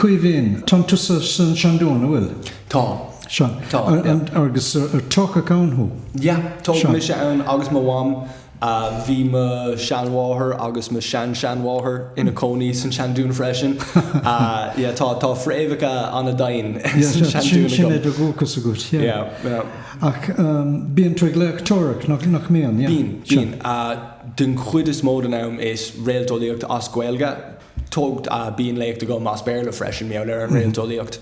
Caoimhín, tá tú san Seandún, an bhfuil? Tá. Sea. Tá, yeah. An, agus ar tógadh ann thú? Yeah, tógadh mise ann agus mo mham. Bhí mo sheanmháthair agus mo shean-sheanmháthair ina cónaí san Seandún freisin. Yeah, tá, tá fréamhacha an-domhain san Seandún agam. Yeah, sin é do dhúchas agat, yeah. Yeah, yeah. Ach bíonn tú ag léachtóireacht, nach, nach mbíonn, yeah? Bíonn, bíonn. Den chuid is mó den am is réalteolaíocht as Gaeilge. tuigim, bíonn léacht agam as Béarla freisin, mar gheall ar an réalteolaíocht.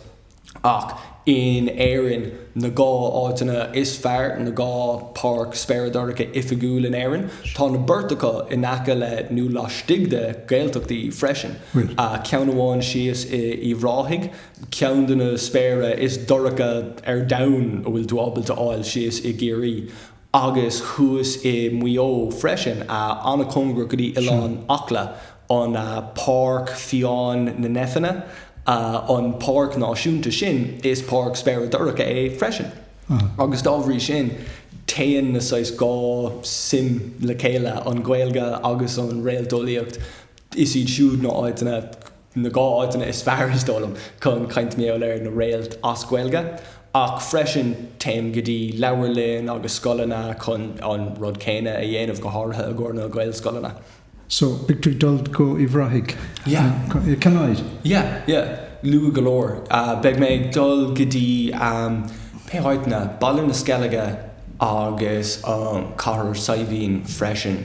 Ach in Éirinn, na dhá áiteanna is fearr, na dhá páirc spéire dorcha oifigiúil in Éirinn, tá na beirt acu in aice le nó laistigh de Ghaeltachtaí freisin. Ceann amháin síos in Uíbh Ráthaigh, ceann de na spéire is dorcha ar domhan a bhfuil tú ábalta fháil síos i gCiarraí. agus thuas i Muigh Eo freisin, an-chóngarach go dtí Oileán Acla, an Páirc Fiáin na Néifinne, an páirc náisiúnta sin, is páirc spéire dorcha é freisin, agus dá bhrí sin téann na saghas dhá suim le chéile, an Ghaeilge agus an réalteolaíocht, is iad siúd na háiteanna na dhá áiteanna is fearr is dóigh liom chun caint mar gheall ar na réalt as Gaeilge ach freisin téim go dtí leabharlainn agus scoileanna chun an rud céanna a dhéanamh, go háirithe i gcomhair na Gaelscoileanna. So, beidh tú ag dul go Uíbh Ráthaigh? Yeah. Cathain? Yeah, yeah. Luath go leor. Beidh mé ag dul go dtí, cúpla áiteanna, Baile na Sceilge agus Cathair Saidhbhín freisin.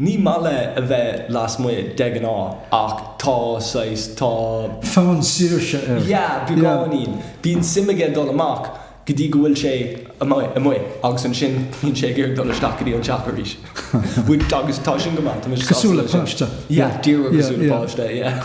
Ní maith leis a bheith lasmuigh, de ghnáth, ach tá saghas. tá. fonn saoirse air. Yeah, beagáinín. Bíonn suim aige dul amach go dtí go bhfuil sé amuigh agus ansin bíonn sé ag iarraidh dul isteach go dtí an teach arís. Which, agus tá sin go maith, tá mise sásta leis sin. Cosúil le páiste. Yeah, díreach cosúil le páiste, yeah.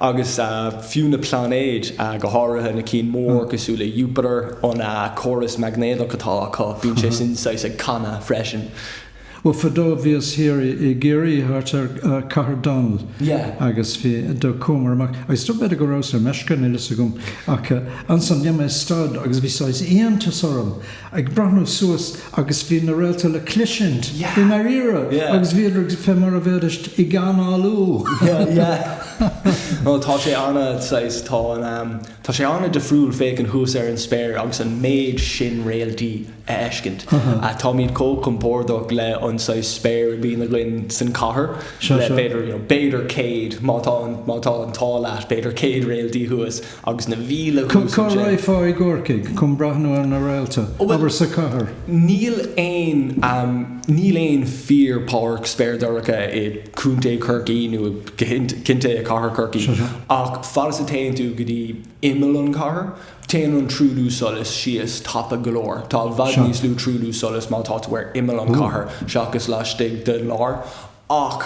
agus fiú na pláinéid, go háirithe na cinn mór cosúil le Iúpatar, an córas maighnéadach atá acu, bíonn sé sin saghas ag canadh freisin. Bhuel, fadó bhíos thiar i gCiarraí, thart ar Cathair Dónaill, agus bhí, do chuamar amach, agus dob fhéidir go rabhas ar meisce, níl a fhios agam, ach ansan dhéan mé stad agus bhí saghas iontas orm, ag breathnú suas agus bhí na réalta le cloisint i ndairíre agus bhíodar fé mar a bhéidist ag análú. Tá sé ana, saghas, tá an am, tá sé ana-dhifriúil féachaint thuas ar an spéir agus an méid sin réaltaí a fheiscint. Táimid chomh compordach le an saghas spéir a bíonn againn san cathair le b'fhéidir, you know, b'fhéidir céad má tá an, má tá an t-ádh leat, b'fhéidir céad réaltaí thuas. agus na mhíle thuas ansin. Cá raghfá i gCorcaigh chun breathnú ar na réalta? Ó, bhuel. Abair sa chathair. Níl aon, níl aon fíor páirc spéir dorcha i gContae Chorcaí nó i gContae i Cathair Chorcaí. Sure, sure. Ach fad is a théann tú go dtí imeall an chathair, téann an truailliú solais síos tapa go leor. Tá i bhfad Sure. níos lú truailliú solais má tá tú ar imeall an Ooh. chathair seachas laistigh den lár. Ach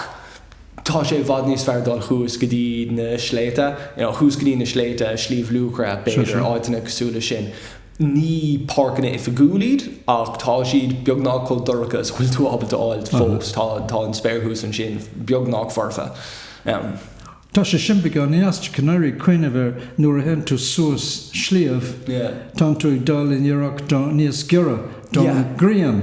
tá sé i bhfad níos fearr dul thuas go dtí na sléibhte, you know, thuas go dtí na sléibhte, Sliabh Luachra, Sure, b'fhéidir, sure. áiteanna cosúil leis sin. Ní páirceanna oifigiúil iad ach tá siad beagnach chomh dorcha is a bhfuil tú ábalta a fháilt Uh-huh. fós. Tá, tá an spéir thuas ansin beagnach foirfe. Um. Tá sé sin beagán ait, gan a bheith ag cuimhneamh air nuair a théann tú suas sliabh, tánn tú ag dul in iarracht níos giorra don ghrian,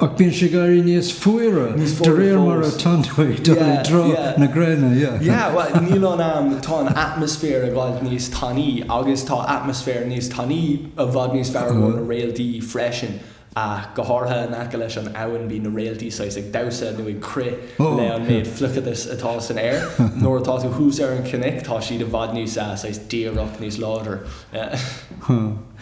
ach bíonn sé ag éirí níos fuaire de réir mar atánn tú ag dul i dtreo na gréine. Yeah, bhuel, níl an, em, tá an atmaisféar ag fáilt níos tanaí agus tá atmaisféar níos tanaí i bhfad níos fearr do na réaltaí freisin. ach go háirithe in aice leis an abhainn bíonn na réaltaí saghas ag damhsa nó ag crith le an méid fliuchadas atá san aer. Nuair atá tú thuas ar an chnoic tá siad i bhfad níos, saghas díreach níos láidir.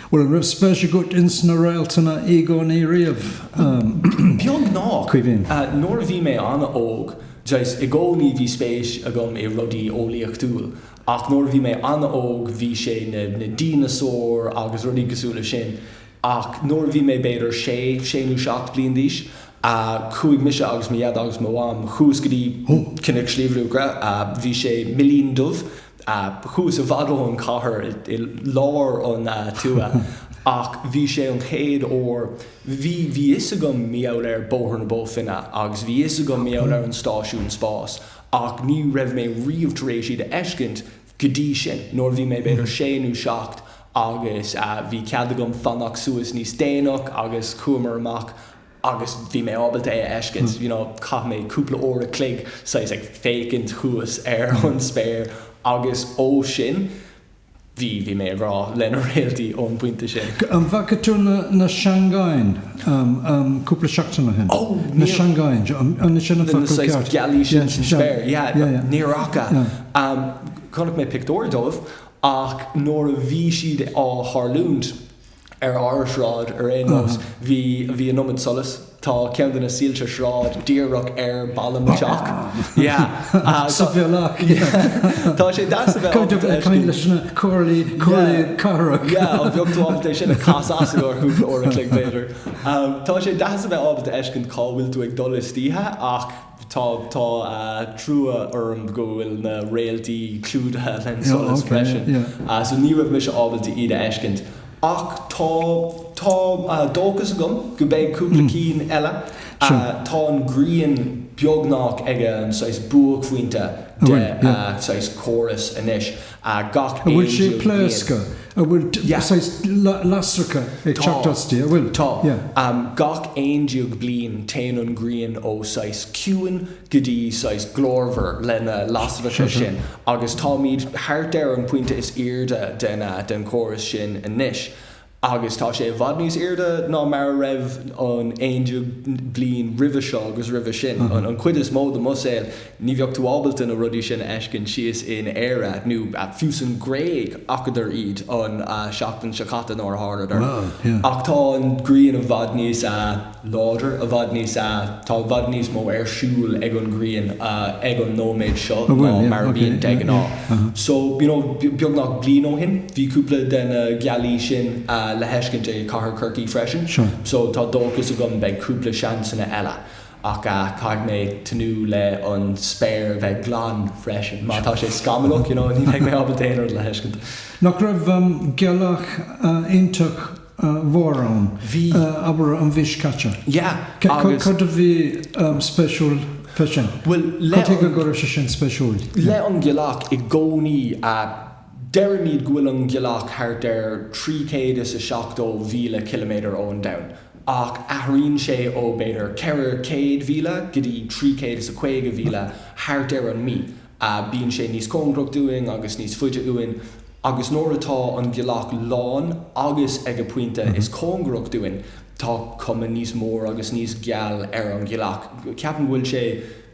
Bhuel, an raibh spéis agat ins na réaltanna i gcónaí riamh? Caoimhín? Beagnach, nuair a bhí mé an-óg, saghas, i gcónaí bhí spéis agam i rudaí eolaíochtúil, ach nuair a bhí mé an-óg bhí sé na díneasáir agus rudaí cosúil leis sin Ach nuair a bhí mé b'fhéidir sé, sé nó seacht bliain d'aois, chuaigh mise agus mo Dhaid agus mo Mham, chuas go dtí Cnoic Shliabh Luachra, bhí sé Millín Dubh, thuas i bhfad ón chathair, i lár an tuaithe, ach bhí sé an chéad uair, bhí, bhí 'fhios agam mar gheall ar Bóthar na Bó Finne agus bhí 'fhios agam mar gheall ar an stáisiún spáis ach ní raibh mé riamh tar éis iad a fheiscint, go dtí sin, nuair a bhí mé b'fhéidir sé nó seacht agus bhí cead agam fanacht suas níos déanach agus chuamar amach agus bhí mé ábalta é a fheiscint, you know, chaith mé cúpla uair a chloig saghas ag féachaint thuas ar an spéir agus ó sin, bhí, bhí mé i ngrá le na réaltaí ón bpointe sin. An bhfaca tú na seangáin? cúpla seachtain ó shin. Ó, níor. Na Seangáin, an sin an focal ceart? Na saghas gealáin sin sa spéir, yeah, níor fhaca. Chonaic mé pictiúir dóibh ach nuair a bhí siad á tharlúint ar ár sráid ar aon nós, bhí, bhí an iomad solas. Tá ceann de na soilse sráide díreach ar balla an teach, yeah. Sa bhealach tá sé deas a bheith ábalta a fheiscint. Caithfidh tú caint leis na comhairlí, comhairlí cathrach. Yeah, an bhfuil tú ábalta é sin a chasadh as go ceann cúpla uair an chloig, b'fhéidir. Tá sé deas a bheith ábalta a fheiscint cá bhfuil tú ag dul istoíche ach tá trua orm go bhfuil na réaltaí clúdaithe leis an solas freisin, so ní raibh mise ábalta iad a fheiscint. Ach tá, tá dóchas agam go beidh cúpla ceann eile. Tá an ghrian beagnach ag an saghas buaicphointe de saghas chóras anois, gach 11 bhfuil sé pléasctha? An bhfuil saghas lasracha ag teacht aisti, an bhfuil? Tá. Gach 11 bliain téann an ghrian ó saghas ciúin go dtí saghas glórmhar lena lasracha sin agus táimid thart ar an pointe is airde den chóras sin anois agus tá sé i bhfad níos airde ná mar a bhí an 11 bhliain roimhe seo agus roimhe sin. An chuid is mó de mo shaol ní bheadh tú ábalta na rudaí sin a fheiscint síos in Éire nó fiú san Ghréig chonacadar iad an seachtain seo caite nuair a tharlaíodar ach tá an ghrian i bhfad níos láidir, i bhfad níos a. Tá i bhfad níos mó ar siúl ag an ghrian ag an nóiméad seo ná mar a bhíonn de ghnáth. So, you know, beagnach bliain ó shin, bhí cúpla de na gealaí sin le fheiscint i cathair Chorcaí freisin. So, tá dóchas agam beidh cúpla seansanna eile. Ach caithfidh mé tnúth le an spéir a bheith glan freisin. Má tá sé scamallach, you know, ní bheidh mé ábalta aon rud le fheiscint. Nach raibh gealach iontach? mhór ann. Bhí. Abair an mhí seo caite. Yeah agus. Cad a bhí spéisiúil fé sin? Bhuel le an. Cad chuige go raibh sé sin spéisiúil? Le an Ghealach i gcónaí a deirimid go bhfuil an Ghealach thart ar trí chéad is a seachtó mhíle ciliméadar ó an Domhan ach athraíonn sé ó b'fhéidir ceithre chéad mhíle go dtí trí chéad is a caoga mhíle thart ar an mí. a Bíonn sé níos cóngarach dúinn agus níos faide uainn agus nuair atá an ghealach lán agus ag a pointe is cóngarach dúinn tá cuma níos mór agus níos geal ar an ghealach. Ceapaim go bhfuil sé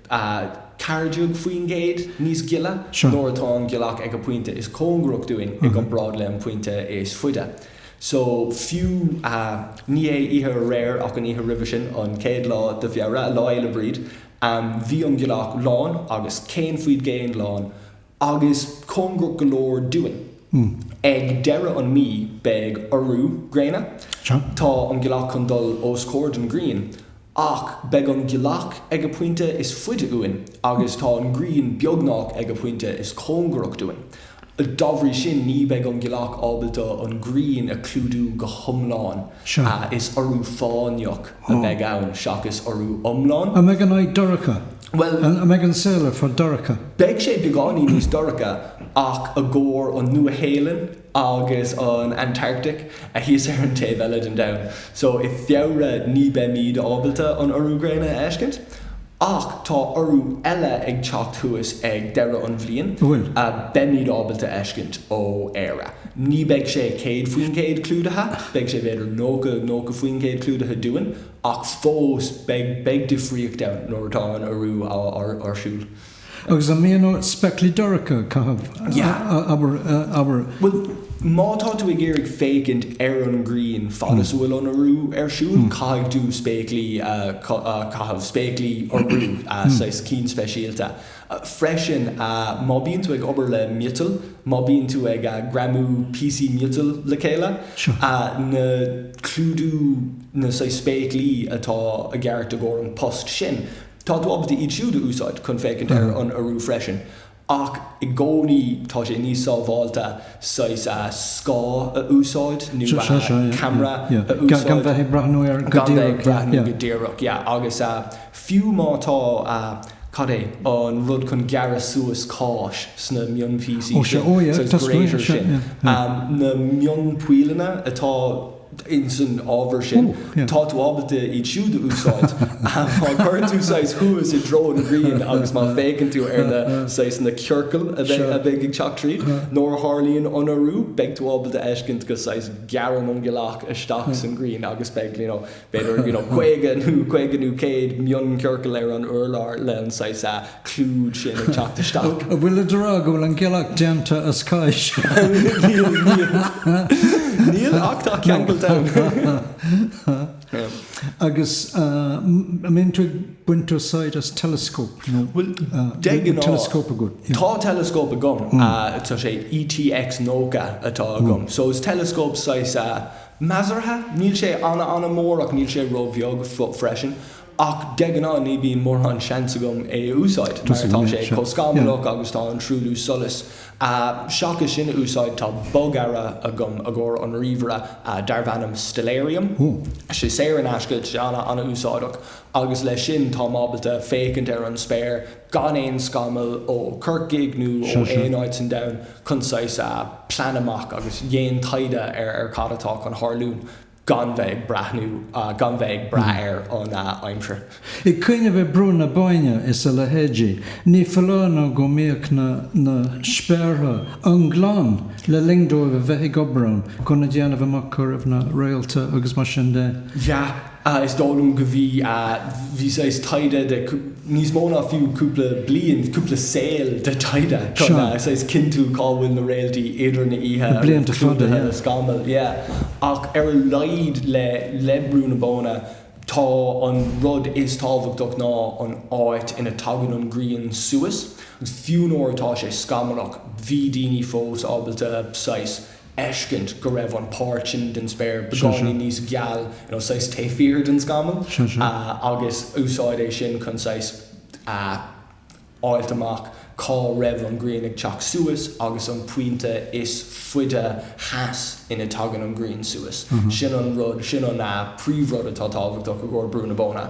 ceathair déag faoin gcéad níos gile nuair atá an ghealach ag a pointe is cóngarach dúinn i gcomparáid le an pointe is faide. So fiú ní é oíche aréir ach an oíche roimhe sin, an chéad lá de Feabhra, Lá Fhéile Bríde, Bhí an ghealach lán agus céad faoin gcéad lán agus cóngarach go leor dúinn. Ag deireadh an mí beidh urú gréine. Tá an ghealach chun dul os comhair den ghrian ach beidh an ghealach ag a pointe is faide uainn agus tá an ghrian beagnach ag a pointe is cóngarach dúinn. Dá bhrí sin, ní bheidh an ghealach ábalta an ghrian a chlúdú go hiomlán. Is urú fáinneach a bheidh ann seachas urú iomlán. An mbeidh an oíche dorcha? An mbeidh an saol ar fad dorcha? Beidh sé beagáinín níos dorcha ach i gcomhair an Nua-Shéalainn agus an Antartaic atá thíos ar an taobh eile den domhan. So, i Feabhra ní beimid ábalta an urú gréine a fheiscint. Ach tá urú eile ag teacht thuas ag deireadh an bhliain a beimid ábalta a fheiscint ó Éire. Ní beidh sé 100% clúdaithe, beidh sé b'fhéidir 90, 90% clúdaithe dúinn, ach fós beidh, beidh difríocht ann nuair atá an urú á, á, ar siúl. Agus an mbíonn ort spéaclaí dorcha a chaitheamh, abair? Bhuel, má tá tú ag iarraidh féachaint ar an ngrian fad is a bhfuil an urú ar siúl, caithfidh tú spéaclaí a chaitheamh, spéaclaí urú, saghas cinn speisialta. Freisin, má bhíonn tú ag obair le miotal, má bhíonn tú ag greamú píosaí miotail le chéile, na clúdaigh, na saghas spéaclaí atá i gceist i gcomhair an post sin. Tá tú ábalta iad siúd a úsáid chun féachaint ar an urú freisin, ach i gcónaí tá sé níos sábháilte saghas a scáth a úsáid nó a camera a úsáid. Gan bheith ag breathnú air go díreach. Gan bheith ag breathnú go díreach, yeah. Agus fiú má tá, cad é an rud chun gearradh suas cáis sna mion-phíosaí, so cheese grater sin, na mion-pollanna atá. ins an ábhar sin, tá tú ábalta iad siúd a úsáid má chuireann tú saghas thuas i dtreo an ghrian agus má fhéachann tú ar na, saghas, na ciorcail a bheidh, a bheidh ag teacht tríd. Nuair a tharlaíonn an urú, beidh tú ábalta a fheiscint go, saghas, gearrann an ghealach isteach san ghrian agus beidh, you know, b'fhéidir, you know, caoga nó, caoga nó céad mion-ciorcal ar an urlár le an saghas, a, clúdach sin ag teacht isteach. An bhfuil tú ag rá go bhfuil an gealach déanta as cáis? Níl, ach tá ceangal ann. Agus an mbíonn tú ag baint úsáid as teileascóp? Bhuel, de ghnáth, tá teileascóp agam. Tá sé ETX90 atá agam. So is teileascóp saghas measartha. Níl sé an-an-mhór ach níl sé ró-bheag freisin. Ach de ghnáth ní bíonn mórán seans agam é a úsáid mar tá sé chomh scamallach agus tá an truailliú solais. Seachas sin a úsáid tá bogearra agam i gcomhair an ríomhaire darbh ainm Stellarium. Tá sé saor in aisce, tá sé an-úsáideach agus leis sin táim ábalta féachaint ar an spéir gan aon scamall ó Chorcaigh nó ó aon áit san domhan chun saghas plean amach agus déan taighde ar cad atá chun tharlú. gan bheith ag breathnú, gan bheith ag brath ar an aimsir. Ag cuimhneamh ar Brú na Bóinne is a leithéidí, ní foláir nó go mbíodh na spéartha an-glan le linn dóibh a bheith ag obair ann chun a dhéanamh amach cá raibh na réalta agus mar sin de. Yeah, is dóigh liom go bhí, bhí saghas taighde, níos mó ná fiú cúpla bliain, cúpla saol de taighde chun a saghas cinntiú cá bhfuil na réaltaí idir na oíche a bheith clúdaithe le scamaill. Yeah. Ach ar a laghad le le Brú na Bóinne, tá an rud is tábhachtach ná an áit ina dtagann an ghrian suas. Agus fiú nuair atá sé scamallach, bhí daoine fós ábalta saghas. fheiscint go raibh an páirt sin den spéir beagáinín níos geal, you know, saghas taobh thiar den scamall, agus úsáid é sin chun saghas a fháilt amach cá raibh an ghrian ag teacht suas agus an pointe is faide theas ina dtagann an ghrian suas. Sin an rud, sin an príomhrud atá tábhachtach i gcomhair Brú na Bóinne.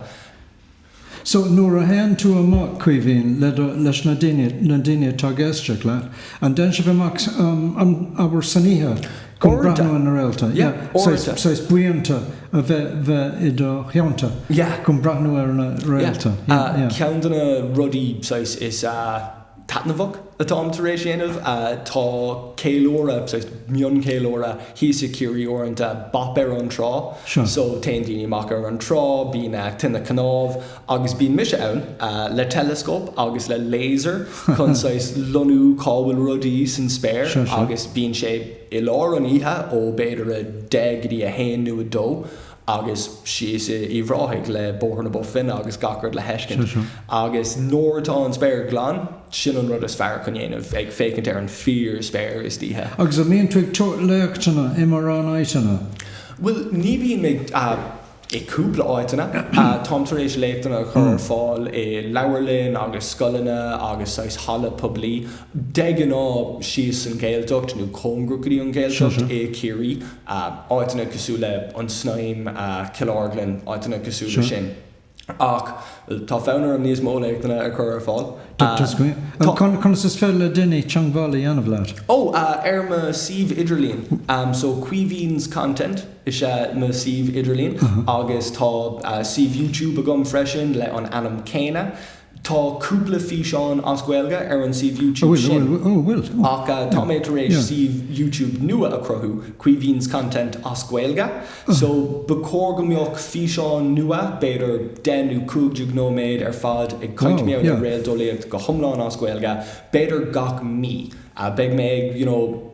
So nuair a théann tú amach, Caoimhín, le do, leis na daoine, na daoine atá ag éisteacht leat, an dtéann sibh amach, an, abair san oíche chun breathnú ar na réalta? Yeah. Saghas, saghas buíonta a bheith, bheith i do theannta. Yeah. Chun breathnú ar na réalta. Yeah. Yeah. Ceann de na rudaí, saghas, is. taitneamhach atáim tar éis dhéanamh. Tá ceiliúradh, mioncheiliúradh thíos i Ciarraí uaireanta, bop ar an trá. So téann daoine amach ar an trá, bíonn tine cnámh agus bíonn mise ann le teileascóp agus le laser chun saghas lonnú cá bhfuil rudaí san spéir agus bíonn sé i lár an oíche ó b'fhéidir a deich go dtí a haon nó a dó agus síos i Uíbh Ráthaigh le Bóthar na Bó Finne agus gach rud le fheiscint. Agus nuair atá an spéir glan, sin an rud is fearr chun dhéanamh, ag féachaint ar an fíor-spéir istoíche. Agus an mbíonn tú ag tabhairt léachtanna i mórán áiteanna? Bhuel, ní bhím ag i gcúpla áiteanna. Táim tar éis léachtanna a chur ar fáil i leabharlainn agus scoileanna agus saghas halla poiblí, de ghnáth síos san Ghaeltacht nó cóngarach go dtí an Ghaeltacht i Ciarraí. áiteanna cosúil le An tSnaidhm, Cill Orglan, áiteanna cosúil leis sin. Ach tá fonn orm níos mó léachtanna a chur ar fáil. Conas is féidir le daoine teangmháil a dhéanamh leat? Ó, ar mo suíomh idirlíon. So Caoimhín's Content is ea mo shuíomh idirlíon agus tá suíomh YouTube agam freisin le an ainm céanna. Tá cúpla físeán as Gaeilge ar an suíomh YouTube sin ach tá mé tar éis suíomh YouTube nua a chruthú, Caoimhín's Content as Gaeilge, so ba chóir go mbeadh físeán nua, b'fhéidir deich nó cúig déag nóiméad ar fad ag caint mar gheall ar réalteolaíocht go hiomlán as Gaeilge, b'fhéidir gach mí. Beidh mé ag, you know,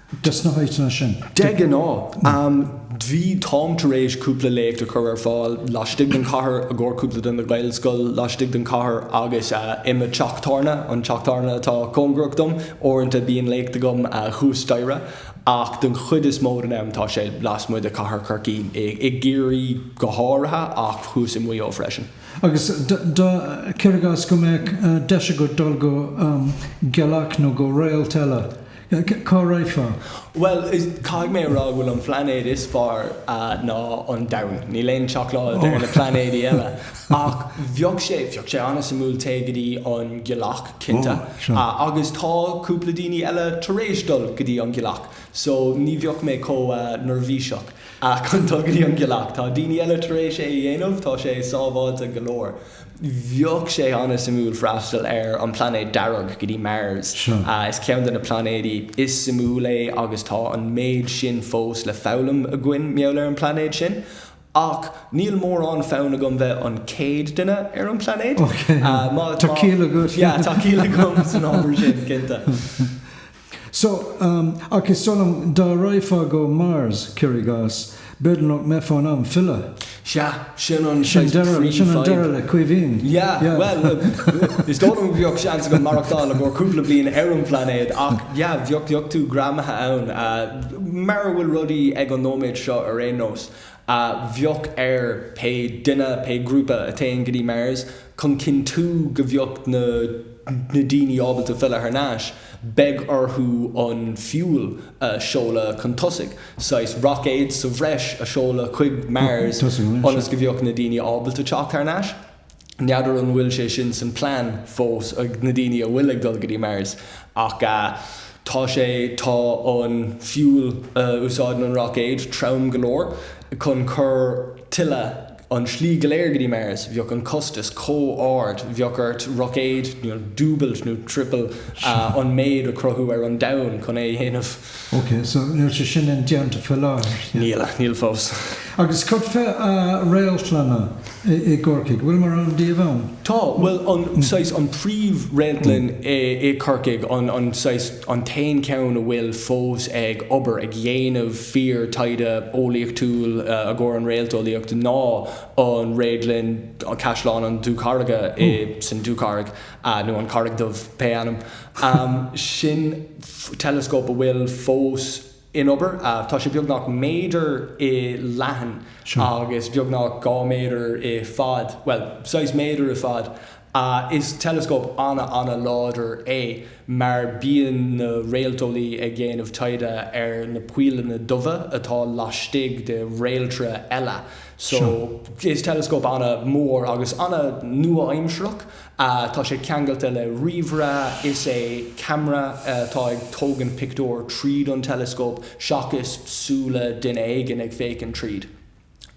Dos na háiteanna sin, de ghnáth, bhí Tom tar éis cúpla léacht a chur ar fáil laistigh den chathair i gcomhair cúpla de na Gaelscoil laistigh den chathair agus i mo theach tábhairne, an teach tábhairne atá cóngarach dom, uaireanta bíonn léacht agam thuas staighre ach den chuid is mó den am tá sé lasmuigh de chathair Chorcaí, i gCiarraí go háirithe ach thuas i Maigh Eo freisin. Agus cuir i gcás go mbeadh deis agat dul go gealach nó go réalt eile. Cá raghfá? Bhuel, caithfidh mé a rá nach bhfuil aon phlainéad is fearr ná an domhan. Níl aon seacláid ar na plainéidí eile. Ach bheadh sé, bheadh sé an-suimiúil téigh go dtí an gealach, cinnte. Agus tá cúpla daoine eile tar éis dul go dtí an ghealach. So, ní bheadh mé chomh neirbhíseach chun dul go dtí an gealach. Tá daoine eile tar éis é a dhéanamh, tá sé sábháilte go leor. Bheadh sé an-suimiúil freastal ar an bplainéad dearg go dtí Mars. Is ceann de na plainéidí is suimiúla é agus tá an méid sin fós le foghlaim againn mar gheall ar an bplainéad sin. Ach níl mórán fonn agam bheith an chéad duine ar an bplainéad. Tá ciall agat. Yeah, tá ciall agam san ábhar sin, cinnte. So, ach is dóigh liom, dá raghfá go Mars, cuir i gcás, b'fhéidir nach mbeifeá in ann filleadh. Sea, sin an saghas príomhfhadhb. Sin deireadh, sin an deireadh le Caoimhín. Yeah, bhuel, is dóigh liom go bheadh seans agam maireachtáil i gcomhair cúpla bliain ar an bplainéad ach, yeah, bheadh tú greamaithe ann, mar a bhfuil rudaí ag an nóiméad seo ar aon nós. a bheadh ar pé duine, pé grúpa a théann go dtí Mars chun cinntiú go bheadh na daoine ábalta filleadh thar n-ais, beidh orthu an fuel a seoladh chun tosaigh, saghas roicéad sa bhreis a seoladh chuig Mars ionas go bheadh na daoine ábalta teacht thar n-ais. N'fheadar an bhfuil sé sin san plean fós ag na daoine a bhfuil ag dul go dtí Mars ach tá sé, tá an fuel a úsáideann an roicéad trom go leor chun cur tuilleadh an slí go léir go dtí Mars, bheadh an costas chomh ard, bheadh ort roicéad dúbailt nó triopailt an méid a chruthú ar an domhan chun é a dhéanamh. Ok, so níl sé sin indéanta faoi láthair, yeah? Níl, níl fós. Agus cad faoi réaltlanna i gCorcaigh? Bhfuil mórán díobh ann? Tá, bhuel, an, saghas, an príomh-réaltlann i gCorcaigh, an, an, saghas, an t-aon cheann a bhfuil fós ag obair, ag dhéanamh fíor taighde eolaíochtúil i gcomhair an réalteolaíocht ná an réadlann, Caisleán an Dúcharraige i, san Dúcharraig. a, nó an Charraig Dubh, pé ainm. Sin teileascóp a bhfuil fós in obair. Tá sé beagnach méadar i leithead agus beagnach dhá méadar i fad, bhuel, saghas méadar i fad. Is teileascóp an-an-láidir é mar bíonn na réalteolaí ag déanamh taighde ar na poilleanna dubha atá laistigh de réaltra eile. So, is teileascóp ana-mhór agus ana-nua-aimseartha. Tá sé ceangailte le ríomhaire, is é camera atá ag tógaint pictiúir tríd an teileascóp seachas súil duine éigin ag féachaint tríd.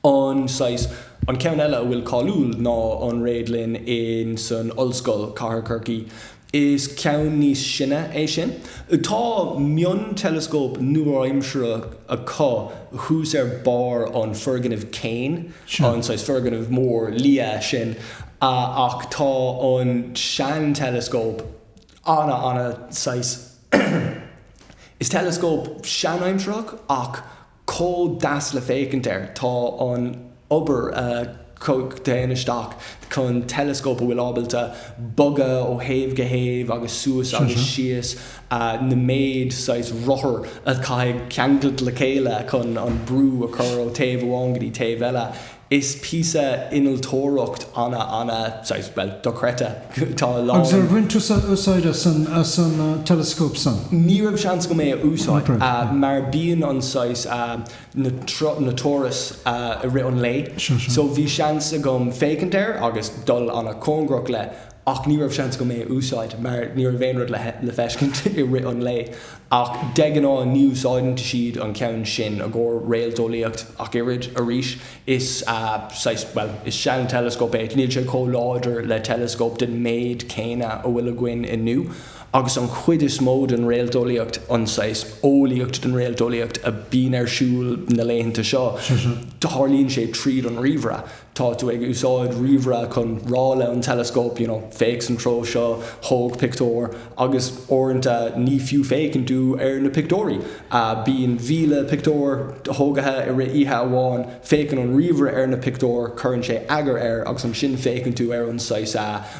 An saghas, an ceann eile a bhfuil cáiliúil ná an Réadlann insan Ollscoil, Cathair Chorcaí. Is ceann níos sine é sin. Tá mion-teileascóp nua-aimseartha acu thuas ar barr an foirgnimh céanna. An saghas foirgneamh mór liath sin ach tá an sean-teileascóp ana, ana saghas, is teileascóp seanaimseartha é ach chomh deas le féachaint air. Tá an obair a théann isteach chun teileascóp a bhfuil ábalta bogadh ó thaobh go thaobh agus suas agus síos, an méid saghas rothar a chaithfidh ceangailt le chéile chun an brú a chur ó taobh amháin go dtí taobh eile. Is píosa innealtóireacht ana ana, saghas, bhuel, dochreidte. Tá a lán. Agus ar bhain tusa úsáid as an, as an teileascóp san? Ní raibh seans agam é a úsáid, Oibre, yeah. mar bíonn an saghas, na, na turas i rith an lae. Sure, sure. So bhí seans agam féachaint air agus dul ana cóngarach leis. ach ní raibh seans agam é a úsáid mar ní raibh aon rud le feiscint i rith an lae. Ach de ghnáth ní úsáideann siad an ceann sin i gcomhair réalteolaíocht ach oiread. Arís, is saghas, bhuel, is seanteileascóp é, níl sé chomh láidir le teileascóp den méid céanna a bhfuil againn inniu, agus an chuid is mó den réalteolaíocht, an saghas eolaíocht den réalteolaíocht a bhíonn ar siúl na laethanta seo, tarlaíonn sé tríd an ríomhaire. tá tú ag úsáid ríomhaire chun rá le an teileascóp you know féach san treo seo, tóg pictiúir agus uaireanta ní fiú féachann tú ar na pictiúirí. Bíonn míle pictiúr tógtha i rith oíche amháin, féachann an ríomhaire ar na pictiúir, cuireann sé eagar air agus ansin féachann tú ar an saghas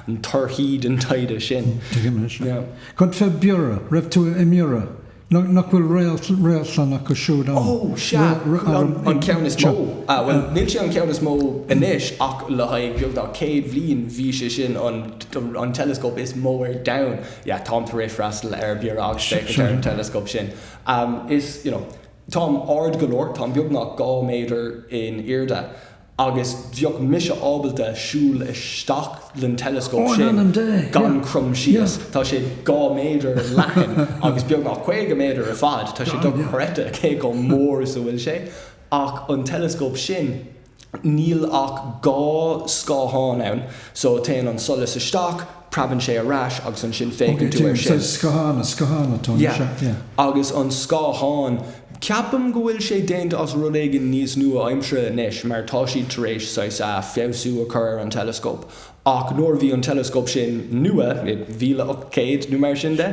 na torthaí den taighde sin. Tuigim, sea. Cad fé Biorra? Raibh tú i mBiorra? Nach bhfuil réadlann acu siúd ann? Oh, sea. An ceann is mó. Ah, bhuel, níl sé an ceann is mó anois ach le haghaidh beagnach céad bliain bhí sé sin an teileascóp is mó ar domhan. Yeah, táim tar éis freastal ar Biorra agus féachaint ar an teileascóp sin. Is, you know, táim ard go leor, táim beagnach dhá méadar in airde. agus bheadh mise ábalta siúl isteach den teileascóp sin gan crom síos. Tá sé dhá méadar leathan agus beagnach caoga méadar ar fad. Tá sé dochreidte cé chomh mór is a bhfuil sé. Ach an teileascóp sin, níl ach dhá scáthán ann, so téann an solas isteach, Preabann sé ar ais agus ansin féachann tú air sin. Scáthán atá anseo. Agus an scáthán, ceapaim go bhfuil sé déanta as rud éigin níos nua-aimseartha anois mar tá siad tar éis saghas feabhsú a chur ar an teileascóp ach nuair a bhí an teileascóp sin nua, i mhíle ocht céad nó mar sin de,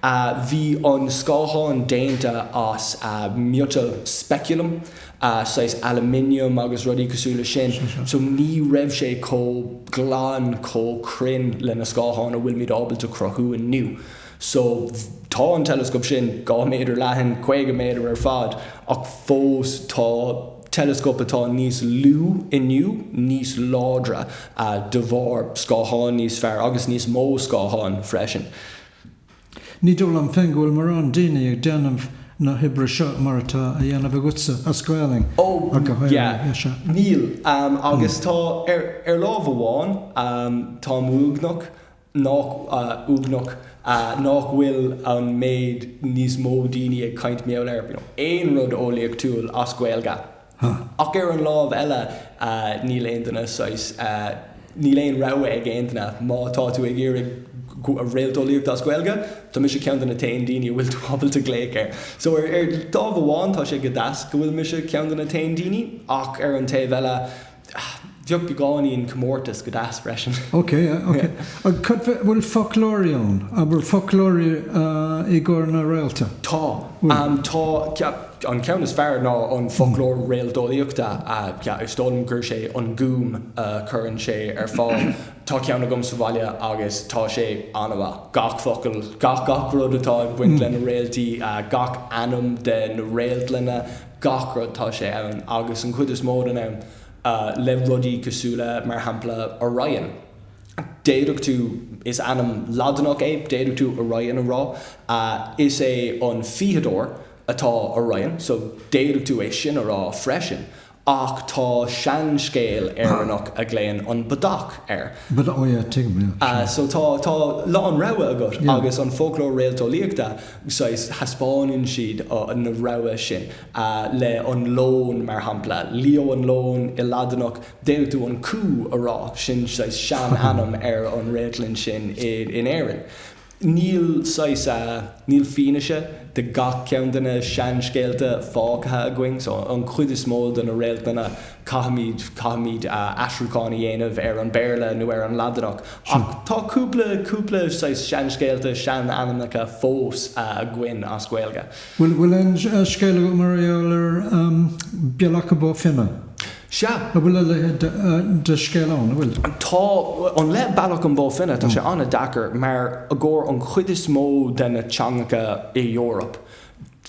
Bhí an scáthán déanta as miotal speculum, saghas aluminium agus rudaí cosúil le sin, so ní raibh sé chomh glan, chomh cruinn le na scátháin a bhfuilimid ábalta cruthú inniu. So tá an teileascóp sin dhá méadar leathan, caoga méadar ar fad, ach fós tá teileascóip atá níos lú inniu níos láidre de bharr scátháin níos fearr agus níos mó scátháin freisin. Ní dóigh liom féin go bhfuil mórán daoine ag déanamh na hoibre seo mar atá á dhéanamh agatsa as Gaolainn ach go háirithe. Níl, agus tá, ar lámh amháin, táim uaigneach, nach, uaigneach, nach bhfuil an méid níos mó daoine ag caint ar, you know, aon rud eolaíochtúil as Gaeilge. Huh. Ach ar an lámh eile, níl aon duine saghas, níl aon rogha ag aon duine má tá tú ag iarraidh réalteolaíocht as Gaeilge, tá mise ceann de na t-aon daoine a bhfuil tú ábalta glaoch air. So ar, ar lámh amháin tá sé go deas go bhfuil mise ceann de na t-aon daoine ach ar an taobh eile, Bheadh beagáinín comórtas go deas freisin. Ok, ok. An bhfuil foclóirí ann? An bhfuil foclóirí i gcomhair na réalta? Tá. Tá. An ceann is fearr ná an Foclóir Réalteolaíochta. Is dóigh liom gurb é An Gúm a chuireann sé ar fáil. Tá ceann agam sa bhaile agus tá sé an-mhaith. Gach focal, gach rud atá ag baint le na réaltaí, gach ainm de na réaltlanna, gach rud tá sé ann agus an chuid is mó den am le rudaí cosúil le mar shampla Orion. D'fhéadfadh tú, is ainm Laidineach é, d'fhéadfadh tú Orion a rá. Is é an fiagadóir atá Orion so d'fhéadfadh tú é sin a rá freisin ach tá seanscéal Éireannach a ghlaonn an Bodach air. Bodach, ó yeah, tuigim, yeah, sure. So tá a lán rogha agat agus an foclóir réalteolaíochta saghas, thaispeáineann siad na rogha sin le an leon, mar shampla, Leo an leon i Laidineach, d'fhéadfadh tú an cú a rá, sin saghas sean-ainm ar an réaltlann sin in Éirinn. Níl saghas, níl fianaise de gach ceann de na seanscéalta fágtha againn, so an chuid is mó de na réaltlanna Caithfimid, caithfimid aistriúchán a dhéanamh ar an Bhéarla nó ar an Laidin. Ach tá cúpla, cúpla saghas seanscéalta, seanainmneacha fós againn as Gaeilge. Bhfuil, bhfuil aon scéal agat mar gheall ar Bealach Bo Finne? Sea. An bhfuil a leithéid de scéal ann, an bhfuil? Tá. An, le Bealach an Bho Finne, tá sé an-deas mar i gcomhair an chuid is mó de na teangacha i Eoraip,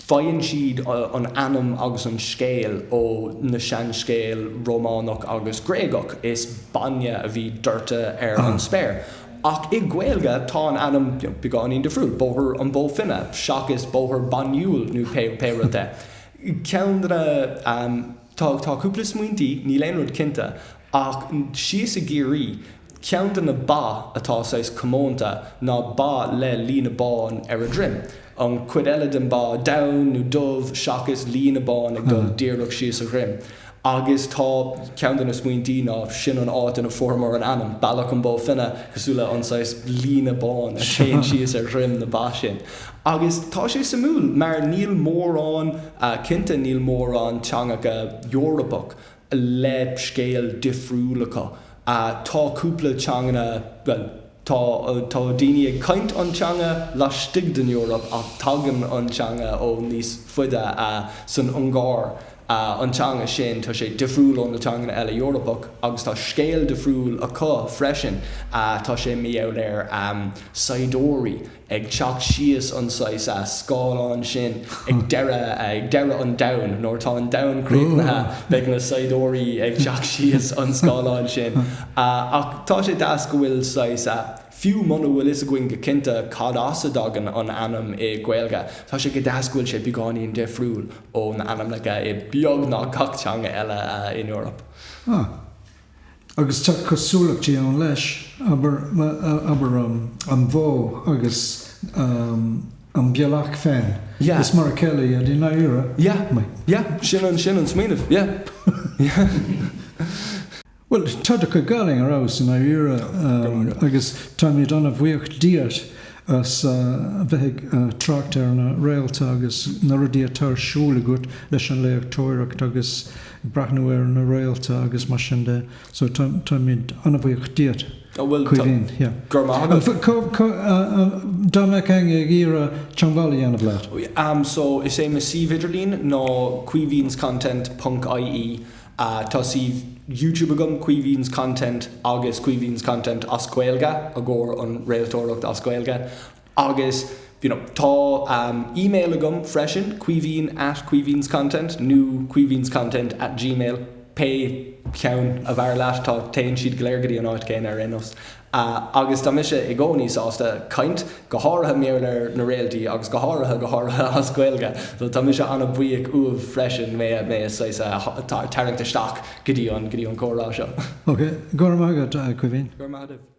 Faigheann siad an ainm agus an scéal ó na seanscéal Rómánach agus Gréagach, is bainne a bhí doirte ar an spéir. Ach i nGaeilge tá an ainm beagáinín difriúil, Bóthar an Bhó Finne seachas Bóthar Bainíúil nó pé rud é. Ceann de na, tá cúpla smaointí, níl aon rud cinnte. Ach síos i gCiarraí, ceann de na ba atá saghas comónta ná ba le líne bán ar a dhroim. An chuid eile den ba donn nó dubh seachas líne bán ag dul díreach síos a dhroim. Agus tá, ceann de na smaointí ná, sin an áit ina fuaireamar an ainm, Bealach an Bó Finne, cosúil le an saghas líne bán a théann síos ar dhroim na ba sin. Agus tá sé suimiúil mar níl mórán, cinnte níl mórán teangacha Eorpach, le scéal difriúil acu. Tá cúpla teanganna, bhuel, tá, tá daoine ag caint an teanga laistigh den Eoraip ach tagann an teanga ó níos faide. San Ungáir, an teanga sin, tá sé difriúil ó na teanganna eile Eorpach agus tá scéal difriúil acu freisin. Tá scéal difriúil air. Saighdiúirí ag teacht síos an saghas scáileán sin ag deireadh, ag deireadh an domhain, nuair atá an domhan críochnaithe, beidh na saighdiúirí ag teacht síos an scáileán sin. Ach tá sé deas go bhfuil saghas, fiú muna bhfuil fhios againn go cinnte cad as a dtagann an ainm i Gaeilge, tá sé go deas go bhfuil sé beagáinín difriúil ón ainmneacha i beagnach gach teanga eile in Eoraip. Agus tá cosúlachtaí ann leis, abair, an bhó agus an bealach féin. Yeah. Is mar a chéile iad i ndáiríre. Yeah, yeah. Sin an smaoineamh, yeah. Bhuel, tá do chuid Gaeilge ar fheabhas i ndáiríre agus táimid an-bhuíoch díot as bheith ag trácht ar na réalta agus na rudaí atá ar siúl agat leis an léachtóireacht agus breathnú ar na réalta agus mar sin de so táimid an-bhuíoch díot. Tá, bhuel, Caoimhín, yeah. Go raibh maith agat. Dá mbeadh éinne ag iarraidh teangmháil a dhéanamh leat? Am so is é mo suíomh idirlín ná caoimhinscontent ponc IE. Tá suíomh YouTube agam, Caoimhín's Content agus Caoimhín's Content as Gaeilge i gcomhair an réaltóireacht as Gaeilge. Agus, you know, tá email agam freisin, caoimhín at caoimhínscontent nó caoimhínscontent at gmail, pé ceann ab fhearr leat, tá, téann siad go léir go dtí an áit chéanna ar aon nós. Agus tá mise i gcónaí sásta caint, go háirithe maidir leis na réaltaí agus go háirithe, go háirithe as Gaeilge. So tá mise an-bhuíoch uaibh freisin mé a, mé a, saghas a, tarraingt isteach go dtí an, go dtí an comhrá seo. Okay, go raibh maith agat, a Chaoimhín. Go raibh maith agat.